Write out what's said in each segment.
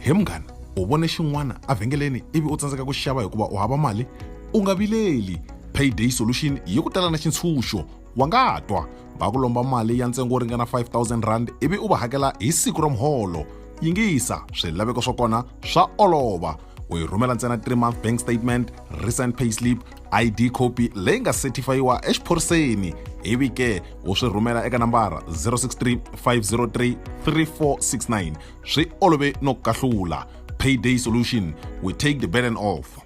he munghana u vone xin'wana evhengeleni ivi u tsandzeka ku xava hikuva u hava mali u nga vileli payday solution yi ku tala na xintshunxo wa nga twa va ku lomba mali ya ntsengo wo ringana 5000 rand ivi u va hakela hi siku ra muholo yingisa swilaveko swa kona swa olova u yi rhumela ntsena 3 month bank statement recent payslip id copy leyi nga setifayiwa exiphoriseni ivi ke u swi rhumela eka nambara 063 503 3469 swi olove no kahlula payday solution we take the burden off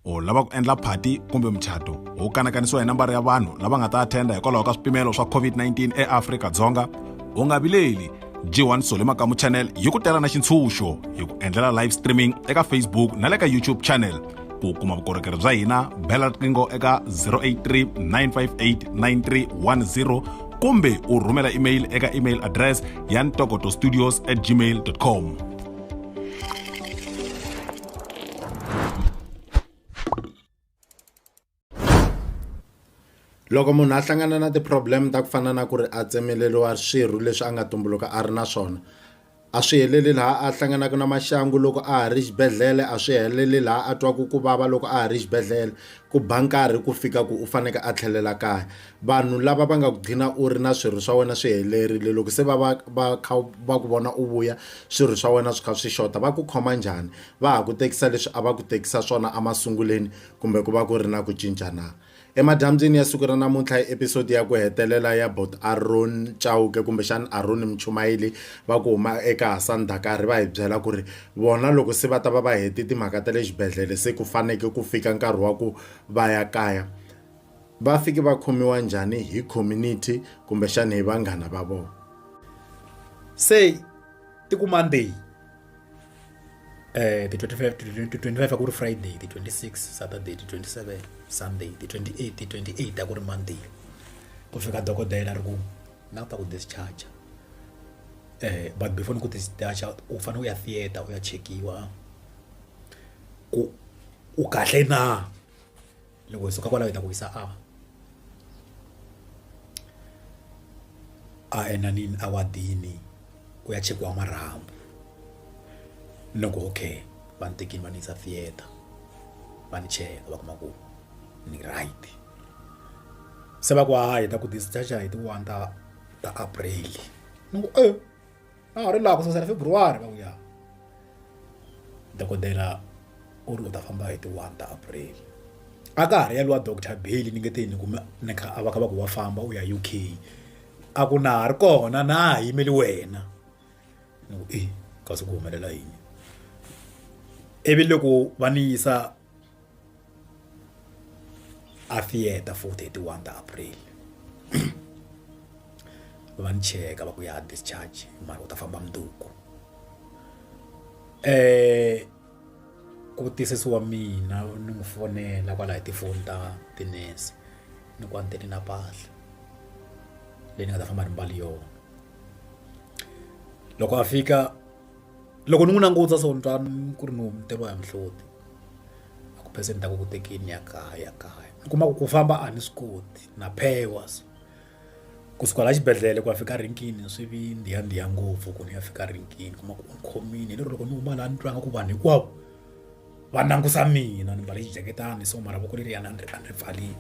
u lava ku endla phati kumbe muchato wu kanakanisiwa hi nambara ya vanhu lava nga ta attenda hikwalaho ka swipimelo swa covid-19 eafrika dzonga u nga vileli g1 sole makamu channel yi ku tela na xintshunxo hi ku endlela live streaming eka facebook na le ka youtube channel ku kuma vukorhokeri bya hina bela riqingho eka 083 958 9310 kumbe u rhumela email eka email address ya ntokoto studios at gmail com Loko munhu a hlangana na ti-problem ta ku fana na ku ri a tsemeleriwa swirho leswi a nga tumbuluka a ri na swona a swi heleli laha a hlanganaka na maxangu loko a ha ri xibedhlele a swi heleli laha a twaku ku vava loko a ha ri xibedhlele ku ba nkarhi ku fika ku u faneke a tlhelela kaya vanhu lava va nga ku gcina u ri na swirho swa wena swi helerile loko se va va va kha va ku vona u vuya swirho swa wena swi kha swi xota va ku khoma njhani va ha ku tekisa leswi a va ku tekisa swona emasunguleni Kumbe ku va ku ri na ku cinca na? Emadyambyini ya siku ra namuntlha hi episodi ya ku hetelela ya Bot Aaron Chauke kumbexana Aaron Muchumayeli va ku huma eka Hassan Dakari va hi byela ku ri vona loko se va ta va va hete timhaka ta le xibedhlele se ku faneke ku fika nkarhi wa ku va ya kaya va fike va khomiwa njhani hi community kumbexana hi vanghana va vona se tikumani leyi eh, the 25 to 25 a ku ri friday the 26 saturday the 27 sunday the 28 the 28 a ku ri monday ku fika dokodela ri ku na ku ta ku discharge eh but before ni ku discharge u fanele u ya theater u ya chekiwa ku u kahle na loko hi suka kwalaho hi ta ku hisa a a enanini a wadini ku ya chekiwa marhambu no ku okay va ni tekini va ni yisa theatre va ni cheka va kuma ku ni right se va ku hayi hi ta ku discharger hi ti one ta ta april ni ku e a nga ri laha ku sasela february va ku ya dokodela u ri u ta famba hi ti one ta april a ka ha ri ya lwa doctor bail ni nge te ni kume ni kha a va kha va ku wa famba u ya uk a ku na ha ri kona na ha yimeli wena ni ku e kasi ku humelela yini ivi loko va ni yisa a theater for 31 ta april va ni cheka va ku ya discharge mara u ta famba mundzuku um ku tiyisisi wa mina ni n'wi fonela kwalaho tifoni ta tinese ni ku a ni tele na mpahla leyi ni nga ta famba ni mbali yona loko a fika loko ni n'wi languta so ni twa ku ri ni hunguteriwa hi mihloti a ku phese ni ta ku ku tekeni ya kaya ya kaya ni kuma ku ku famba a ni swi koti na phewa so kusuka la xibedhlele ku ya fika rinkini swi vi ndiya ndiya ngopfu ku ni ya fika rinkini kuma ku ni khomile lero loko ni huma laha ni twanga ku vanhu hinkwavo va langusa mina ni mbale xijaketani so maravoko leriyani a ni ri a ni ri pfarile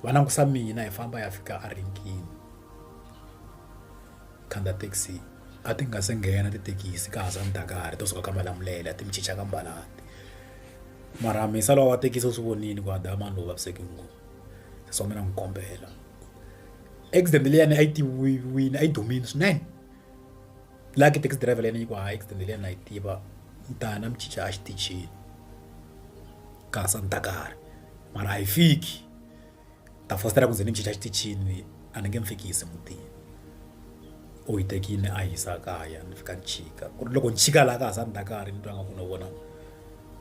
va langusa mina hi famba ya fika a rinkini khandziya thekisi a ti nga se nghena tithekisi ka ha sale ndzhaka to suka ka malamulele a ti mi chicha ka mbalapila mara mehe se lowa wa thekisi u swi vonile ku a dlaya mani lowu vavisekile ngopfu se swa mina ni kombela accident leyi a ni a yi tiviwile a yi dumile swinene laha ka taxi driver leyi ni ku hayi accident leyi a ni yi tiva ni ta ya ni ya mi chicha exitichini ka ha sale ndzhaka mara a yi fiki. ta fositela ku ze ni chicha xitichini a ni nge mu fikisi mutini u yi tekile a yi yisa kaya ni fika ni chika ku ri loko ni chika laha ka ha sa ni ta karhi ni twa nga ku no vona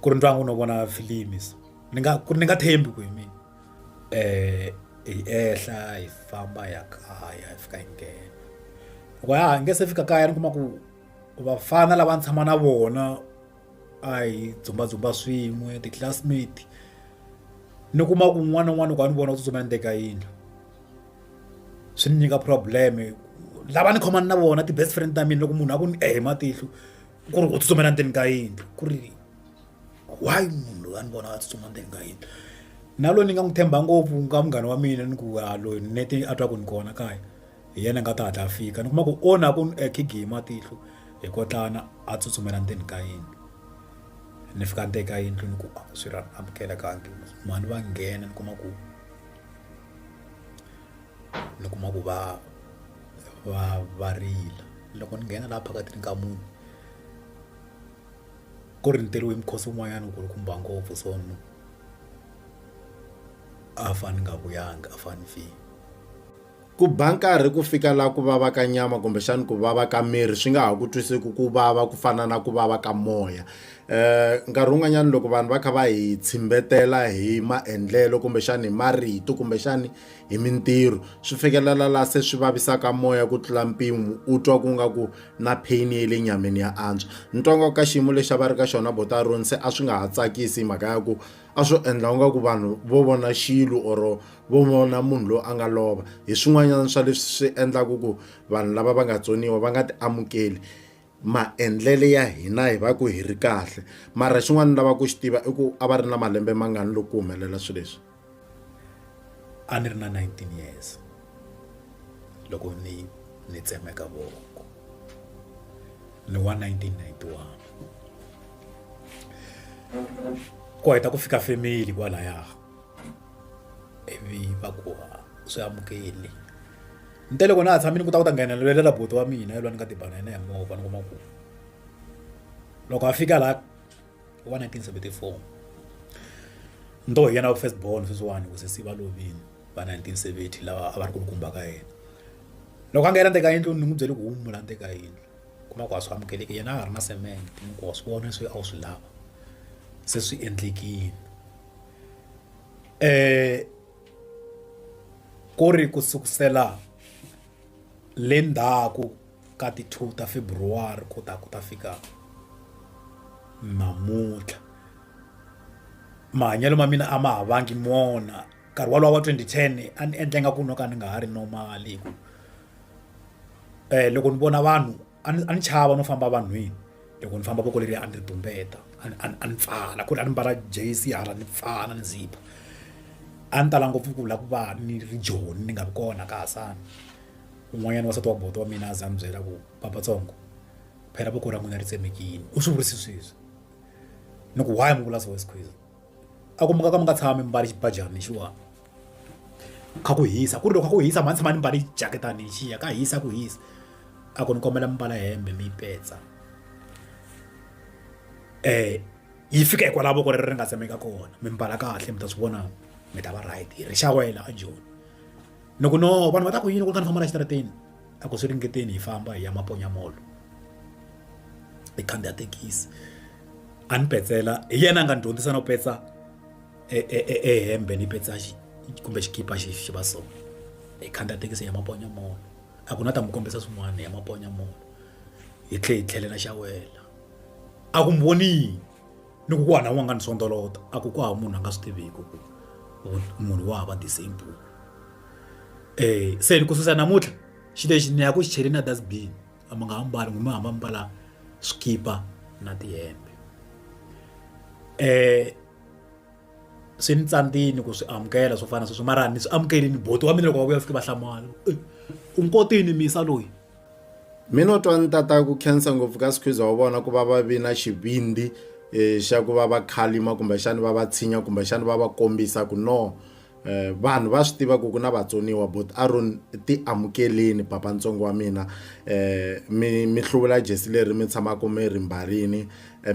ku ri ni twa nga ku no vona filimi so ni nga ku ri ni nga thembi ku hi mina um hi ehla hi famba ya kaya hi fika hi nghena loko ya ha nge se fika kaya ni kuma ku vafana lava ni tshama na vona. a hi dzumbadzumba swin'we ti-classmate ni kuma ku un'wana na un'wana loko a ni vona u tsutsuma ni teka yindlu swi ni nyika problem lava ni khomani na vona ti-best friend ta mina loko munhu a ku ni ehe matihlo ku ri u tsutsumela ndzeni ka yindlu ku ri why munhu loyi a ni vona a tsutsuma ndzeni ka yindlu na loyi ni nga n'wi tshemba ngopfu ka munghana wa mina ni ku a loyi nete a twa ku ni kona kaya hi yena a nga ta hatla a fika ni kuma ku o na ku khigi hi matihlo hi kotlana a tsutsumela ndzeni ka yindlu ni fika ndzeni ka yindlu ni ku a swi ra amukelekangi mhani va nghena ni kuma ku ni kuma ku va va va rila loko ni nghena laha phakatini ka munhu ku ri ntirho hi mukhosi wun'wanyana ku ri kumba ngopfu so ni a fane ni nga vuyanga a fane ni file. Ku ba nkarhi ku fika laha ku vava ka nyama kumbexana ku vava ka miri swi nga ha ku twiseki ku vava ku fana na ku vava ka moya um nkarhi wun'wanyana loko vanhu va kha va hi tshimbetela hi maendlelo kumbexana hi marito kumbexana hi mintirho swi fikelela laha se swi vavisaka moya ku tlula mpimo u twa ku nga ku na pain ya le nyameni ya antswa ni twa nga ka xiyimo lexi a va ri ka xona botaron se a swi nga ha tsakisi hi mhaka ya ku a swo endla u nga ku vanhu vo vona xilo or vo vona munhu loyi a nga lova hi swin'wanyana swa leswi swi endlaka ku vanhu lava va nga tsoniwa va nga ti amukeli maendlele ya hina hi va ku hi ri kahle mara xin'wana lava ku xi tiva i ku a va ri na malembe mangani loko ku humelela swilo leswi a ni ri na 19 years loko ni ni tsemeka voko ni wa 1991 ku heta ku fika family kwalaya ivi va ku ha swi amukeli ni te loko na ha tshami ni ku ta ku ta nghenelelela buti wa mina yelwa ni nga tibana yena hi movha ni kuma ku loko a fika laha wa 1974 ni to hi yena wa first born sweswiwani ku sesi va lovini va 1970 lava a va ri kulukumba ka yena loko a nghena ndzeni ka yindlu ni n'wi byele ku humula ndzeni ka yindlu kuma ku a swi amukeleki yena a nga ri na cement mi ku wa swi vona leswi a wu swi lava se swi endlekile ku ri ku sukusela le ndzhaku ka ti two ta February ku ta ku ta fika namuntlha mahanyelo ma mina a ma ha vangi mona nkarhi wolowo wa twenty ten a ni endla ingaku no ka ni nga ha ri normal hi ku loko ni vona vanhu a ni a ni chava no famba vanhwini loko ni famba voko leri a ni ri tumbeta a ni a ni a ni pfala ku ri a ni mbala J_C hala ni pfala ni zip a ni tala ngopfu ku lava ku va ni ri joni ni nga vi kona ka ha sani un'wanyana wansati wa buti wa mina a za a ni byela ku papa tsongo phela voko ra n'wina ri tsemekini u swi vurise sweswi ni ku why mi vula so . a ku muka ka mi nga tshami mi mbale xibajana lexiwani kha ku hisa ku ri loko kha ku hisa mhani tshama ni mbale jaketani lexiya ka hisa ku hisa a ku ni kombela mi mbala hembe mi yi petsa um yi fika hikwalaho voko ri ri nga tsemeka kona mi mbala kahle mi ta swi vona mi ta va right ri xawela a joni ni ku no vanhu va ta ku yini ku ri ka ni famba la exitarateni a ku swi ringeteni hi famba hi ya maponya mall hi khandziya thekisi a ni petsela hi yena a nga ni dyondzisa no petsa e, e, e, e hembe ni petsa kumbe xikipa xi xi va so hi khandziya thekisi ya maponya mall a ku na ta mi kombisa swin'wana ya maponya mall hi tlhe hi tlhelela xa wela a ku mi vonile ni ku ku hana n'wanga ni sondolota a ku ku hava munhu a nga swi tiviki ku munhu wa hava the same book um se ni ku susa namuntlha xi lexi ni ya ku xi chele na dasbin a mi nga ha mbali n'wimi hamba mbala swikipa na tihembe um swi ni tsandzini ku swi amukela swo fana sweswo mara ni swi amukerile boti wa mina loko va vuya fike va hlamala u nkotini misa loyi mi no twa ni tata ku khensa ngopfu ka sikhwiza wa vona ku va va vi na xivindzi um xa ku va va khalima kumbexani va va tshinya kumbexani va va kombisa ku no Eh, vanhu va swi tiva ku ku na vatsoniwa but aron ti amukeleni papa ntsongo wa mina eh, mi mi hluvula jesi leri mi tshamaka mi ri mbarini Eh,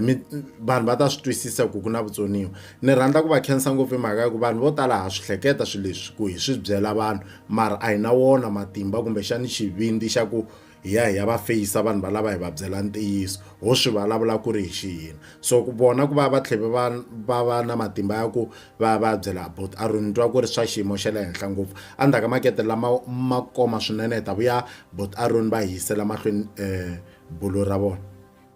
vanhu va ta swi twisisa ku ku na vutsoniwa ni rhandza ku va khensa ngopfu hi mhaka ya ku vanhu vo tala ha swi hleketa swilo leswi ku hi swi byela vanhu mara a hi na wona matimba kumbexani xivindzi xa ku hi ya hi ya va feyisa vanhu valava hi va byela ntiyiso ho swi vulavula ku ri hi xiyini so ku vona ku va va tlhela va va va na matimba ya ku va va byela about a ri ni twa ku ri swa xiyimo xa le henhla ngopfu endzhaku ka makete lama ma koma swinene hi ta vuya but a ri ni va hi yisela mahlweni um bulo ra vona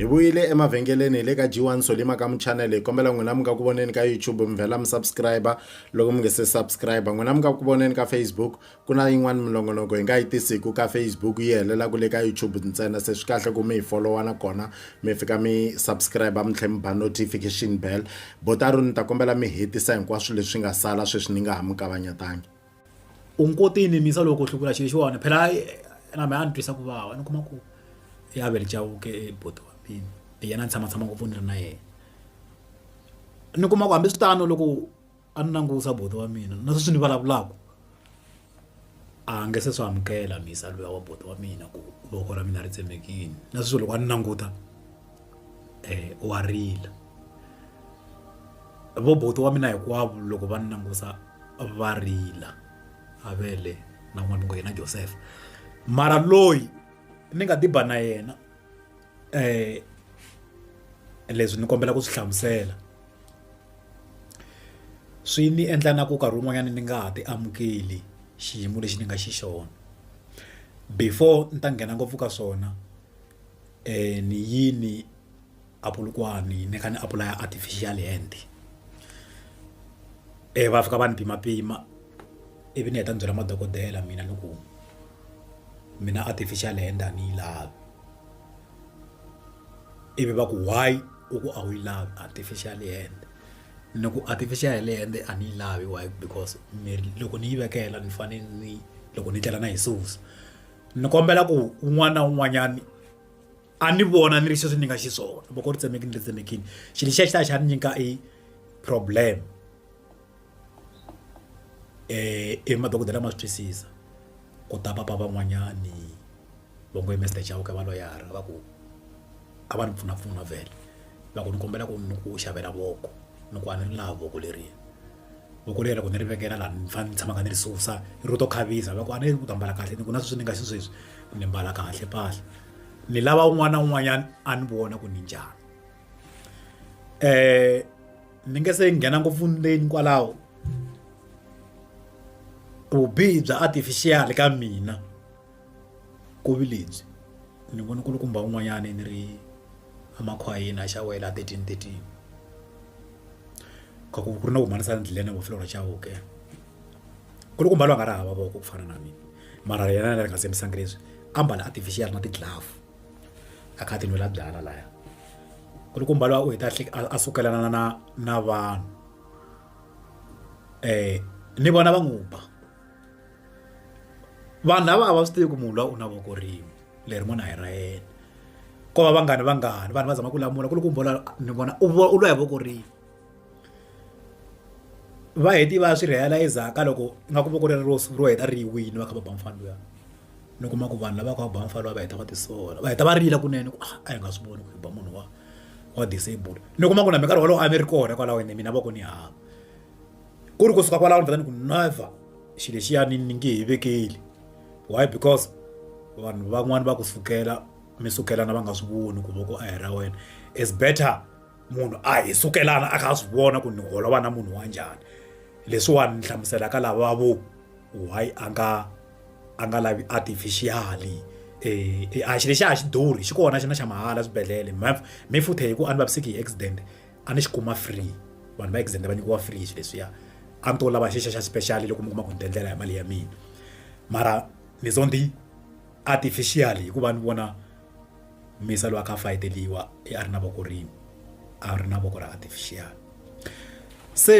hi vuyile emavhengeleni hi le ka g1 solima ka muchanele hi kombela n'wina mi nga ku voneni ka youtube mi vhela mi subscribe loko mi nge se subscribe n'wina mi nga ku voneni ka facebook ku na yin'wani minongonoko hi nga yi tisiku ka facebook yi helelaku le ka youtube ntsena se swi kahle ku mi hi folowa na kona mi fika mi subscribe mi tlhe mi ba notification bell botaro ni ta kombela mi hetisa hinkwaswo leswi nga sala sweswi ni nga ha mi kavanyetangi u ngi koti yi nimisa loko u hlukula xilo xi wona phela na mehe a ni twisa ku vava ni kuma ku i avele chauke i buti wa mina hi yena a ni tshamatshama ngopfu ni ri na yena ni kuma ku hambiswiritano loko a ni langusa buti wa mina na sweswi ni vulavulaka a nge se swi amukela mhisa luya wa buti wa mina ku voko ra mina ri tsemekile na sweswi loko a ni languta. wa rila vo buti wa mina hinkwavo loko va ni langusa va rila avele na n'wana wa yena Joseph mara loyi ni nga tiba na yena leswi ni kombela ku swi hlamusela swi ni endla na ku nkarhi wun'wanyana ni nga ha ti amukeli xiyimo lexi ni nga xi xona before ni ta nghena ngopfu ka swona. um ni yini a Polokwane ni kha ni apulaya artificial hand um va fika va ni pima pima ivi ni heta ni byela madokodela mina ni ku mina artificial hand a ni yi lavi ivi va ku why u ku a wu yi lavi artificial hand ni ku artificial hand a ni yi lavi why because miri loko ni yi vekela ni fane ni loko ni tlhela na yi susa. ni kombela ku un'wana na un'wanyani a ni vona ni ri sweswi ni nga xiswona loko ri tsemeki ni ri tsemekini xilo lexiya xi ta xa ni nyika i problem um i madokodela ma swi twisisa ku ta papa van'wanyani va ngo mester chavo ka va loyara va ku a va ni pfunapfuna vhele va ku ni kombela ku ni ku xavela voko ni ku a ni ri laha voko leriya voko leri loko ni ri vekela laha ni fanele ni tshamaka ni ri susa ro to khavisa loko a ni ku ta mbala kahle ni ku na sweswi ni nga xisweswi ni mbala kahle mpahla ni lava un'wana na un'wanyana a ni vona ku ni njhani um ni nge se nghena ngopfu ndzeni kwalaho vubihi bya artificial ka mina Kovi lebyi ni vone ku ri kumba un'wanyana ni ri a makhwayeni a xawela a thirteen thirteen ka ku ku ri na ku humesa endleleni wa fuloro chauke nkulukumba loyi a nga ri hava voko ku fana na mina mara yena a nga tshembisanga leswi ambala artificial na ti glove a kha a ti nwela byalwa laya nkulukumba loyi u heta a tlhela a sukelana na na na vanhu ni vona va n'wi ba. vanhu lava a va swi tivi ku munhu loyi u na voko rin'we leri n'wana hi ra yena ko va vanghani vanghani vanhu va zama ku lamula ku ri ku mbola ni vona u u lwa hi voko rin'we va heti va swi realizer ka loko nga ku voko leri ro ro heta ri wini va kha va ba mufana luya ni kuma ku vanhu lava kha va ba mufana luya va heta va tisola va heta va rila kunene ku ah, a hi nga swi voni ku hi ba munhu wa wa disable ni kuma ku na minkarhi wolowo a mi ri kona kwalaho ene mina voko ni hava ku ri kusuka kwalaho ni vheta ni ku never xilo lexiyani ni nge he vekeli why because vanhu van'wani va ku sukela mi sukelana va nga swi voni ku voko a hi ra wena is better munhu a hi sukelana a kha a swi vona ku ni holova na munhu wa njhani leswiwani ni hlamuselaka lava vo why a nga a nga lavi artificially eh, eh a xilo lexi a xi durhi xi kona xi na xa mahala swibedhlele mhaf mi futhe hi ku a ni vaviseki hi accident a ni xi kuma free vanhu va exenda va nyikiwa free swilo leswiya a ni to lava xixa xa special loko mi kuma ku ni tiendlela hi mali ya mina mara ni zo ni artificial hikuva ni vona misa loyi a kha a fayeteliwa i a ri na voko rin'we a ri na voko ra artificial se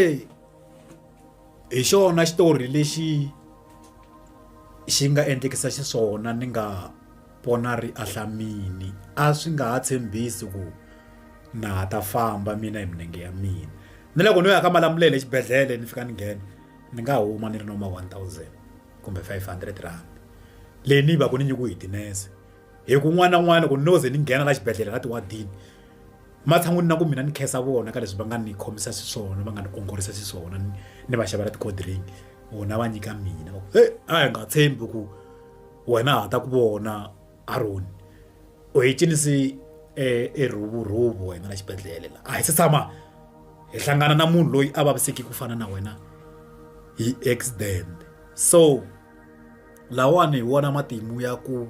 hi xona xitori lexi xi nga endlekisa xiswona ni nga Pona ri ahla mini, a swi nga ha tshembisi ku na ha ta famba mina hi minenge ya mina. Ni loko no ya ka Malamulele exibedhlele ni fika ni nghena, ni nga huma ni ri no ma one thousand kumbe five hundred rand. Leyi ni yi va ku ni nyikiwe hi tinese. Hikuva un'wana na un'wana loko no ze ni nghena laha xibedhlele la ti-ward-ini, ematshan'wini na ku mina ni khensa vona ka leswi va nga ni khomisa xiswona, va nga ni ongorisa xiswona, ni va xavela ti-cold drink, vona va nyika mina. He a hi nga tshembi ku. Wena ha ta ku vona Aroni u hi cinise erhuvurhuvu wena na xibedhlele la a hi se tshama hi hlangana na munhu loyi a vaviseki ku fana na wena hi accident so lawani hi wona matimu ya ku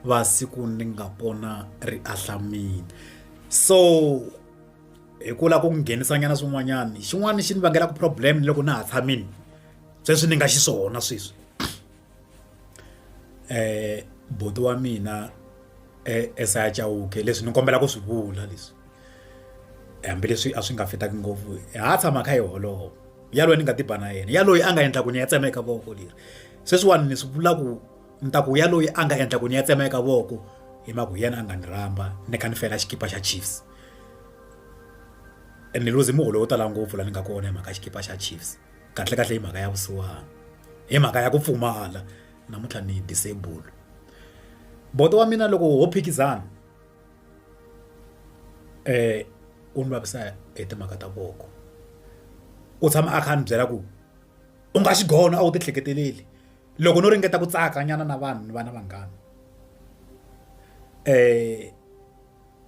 va siku ni nga pona ri ahlamile so hi ku lava ku nghenisa nyana swin'wanyana xin'wana xi ni vangelaku problem ni loko na ha tshamile sweswi ni nga xiswona sweswi. buti wa mina esaya Chauke leswi ni kombela ku swi vula leswi hambileswi a swi nga fitaki ngopfu ha tshama kha hi holova yaloye ni nga tiba na yena yaloye a nga endla ku ni ya tsemeka voko leri sweswiwani ni swi vula ku ni ta ku yaloye a nga endla ku ni ya tsemeka voko hi mhaka ku yena a nga ni rhamba ni kha ni fela xikipa xa Chiefs ni luze muholo wo tala ngopfu laha ni nga kona hi mhaka xikipa xa Chiefs. kahlekahle hi mhaka ya vusiwana hi mhaka ya ku pfumala namuntlha ni disable bodo wa mina loko ho phikizana eh u ni vavisa hi timhaka ta voko u tshama a kha a ni byela ku u nga xigona a wu tihleketeleli loko no ringeta ku tsaka nyana na vanhu ni vana vanghana eh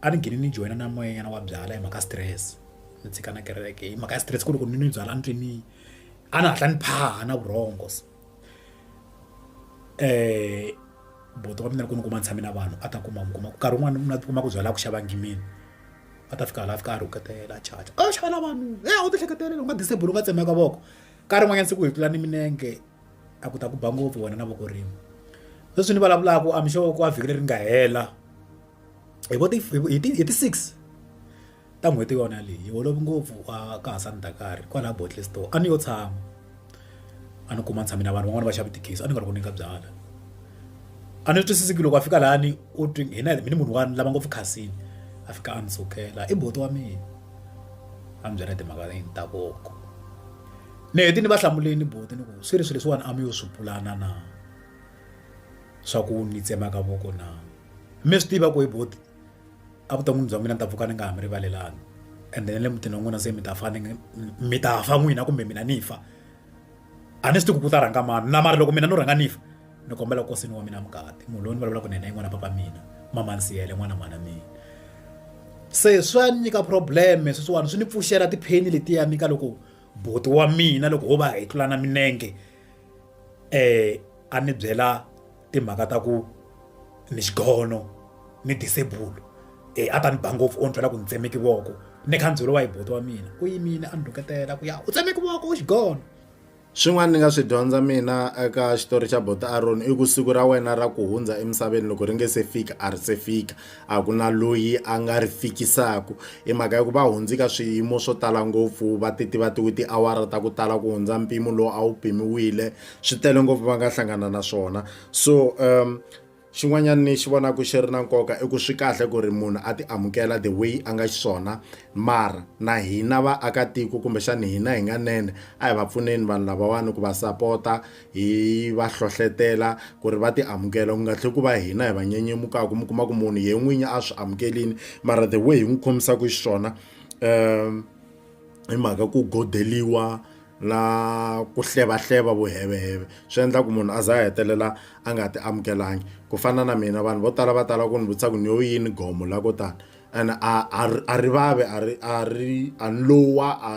A ni gine ni joyina na moya nyana wa byalwa hi mhaka stress ni tshika na kereke hi mhaka ya stress ku ri ku ni nwi byalwa ni twe ni a ni hatla ni phaha na vurhongo se buti wa mina loko ni kuma ni tshame na vanhu a ta kuma mi kuma ku nkarhi wun'wani na ti kuma ku byalwa a ku xava ngimini a ta fika hala a fika a rhuketela a charger a xava na vanhu he a wu ti ehleketelela u nga disable u nga tsemeka voko nkarhi wun'wanyana siku hi tlula ni minenge a ku ta ku ba ngopfu wena na voko rin'we sweswi ni vulavulaka I'm sure ku a vhiki leri nga hela. hi vo ti hi ti hi ti six ta n'hweti yona leyi hi holove ngopfu a ka ha sani dakari kwalaho bottle store a ni yo tshama a ni kuma ni tshame na vanhu van'wana va xava tikhisi a ni nga ri ku nyika byala a ni twisisiki loko a fika lani u twi hina hi ni munhu wa lava ngopfu khasini a fika a ni sukela i boti wa mina a ni byela timhaka ni ta koko ni heti ni va hlamuleni boti ni ku swi ri swilo leswiwani a mi yo swi pulana na swa ku ni tsemaka voko na Mi swi tiva ku he buti evuton'wini bya mina ni ta pfuka ni nga ha mi rivalelanga ende na le mutini wa n'wina se mi ta fa ni mi ta fa n'wina kumbe mina ni fa a ni swi tivi ku ku ta rhanga mani na mara loko mina no rhanga ni fa ni kombela ku kosini wa mina mukati munhu loyi ni vulavulaka na yena i n'wana papa mina mamani siyele n'wana mhana mina se swa ni nyika problem sweswiwani swi ni pfuxela tipheni letiya ni ka loko buti wa mina loko ho va hi tlulana milenge um a ni byela timhaka ta ku ni xigono ni disable e a ta ni ba ngopfu o ni byela ku ni tsemeke voko ni kha ni byeriwa hi buti wa mina u yimile a ni rhuketela ku ya u tsemeke voko u xigono swin'wana ni nga swi dyondza mina eka xitori xa bota aron i ku siku ra wena ra ku hundza emisaveni loko ri nge se fika a ri se fika a ku na loyi a nga ri fikisaku i mhaka ya ku va hundzi ka swiyimo swo tala ngopfu va ti tiva tiwi tiawara ta ku tala ku hundza mpimo lowu a wu pimiwile swi tele ngopfu va nga hlangana na swona so um xin'wanyana ni xi vonaka xi ri na nkoka i ku swi kahle ku ri munhu a ti amukela the way a nga xiswona mara na hina vaakatiko kumbexana hina hi nga nene a hi va pfuneni vanhu lavawani ku va sapota hi va hlohlotela ku ri va ti amukela ku nga tlhela ku va hina hi va nyenyemukaka mi kuma ku munhu ye n'winyi a swi amukelini mara the way hi n'wi khomisaka xiswona um hi mhaka ku godeliwa na ku hleva hleva vuheveheve swi endla ku munhu a za a hetelela a nga ti amukelanga ku fana na mina vanhu vo tala va tala ku ni vutisa ku ni yo yini gomo la ko tani and a a a ri vave a ri a ri a ni lowa a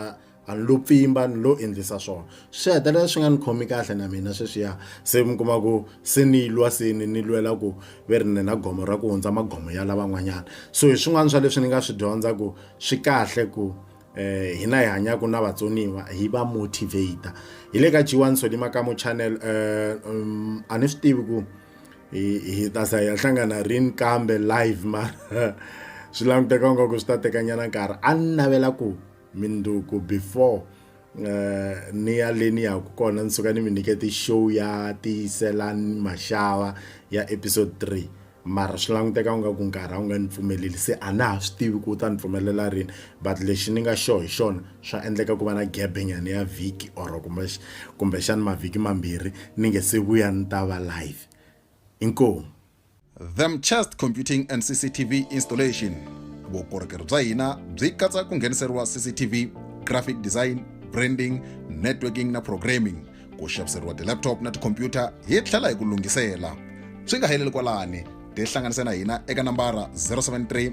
a ni lo pfimba ni lo endlisa swona swi hetelela swi nga ni khomi kahle na mina sweswiya se mi kuma ku se ni lwa se ni ni lwela ku ve ri ni na gomo ra ku hundza magomo ya lavan'wanyana so hi swin'wana swa leswi ni nga swi dyondza ku swi kahle ku eh hina hi hanyaka na vatsoniwa hi va motivate hi le ka G1 Solima Kamo channel eh um, a ni swi tivi ku hi ta sa ya hlangana rin kambe live ma swi languteka nga ku swi ta teka nyana nkarhi a ni navela ku minduku before eh, ni ya leni ya ku kona ni suka ni mi nyikete show ya tiyiselani maxava ya episode 3 mara swi languteka u nga ku nkarhi a wu nga ni pfumeleli se a na ha swi tivi ku u ta ni pfumelela rini but lexi ni nga xo hi xona swa endleka ku va na gabenyana ya vhiki or kumbexani mavhiki mambirhi ni nge se vuya ni ta va live inkomu Themchest Computing and CCTV Installation vukorhokeri bya hina byi katsa ku ngheniseriwa CCTV graphic design branding networking na programming ku xaviseriwa ti-laptop na tikhompyuta hi tlhela hi ku lunghisela swi nga heleli kwalani tihlanganise na hina eka nambara 073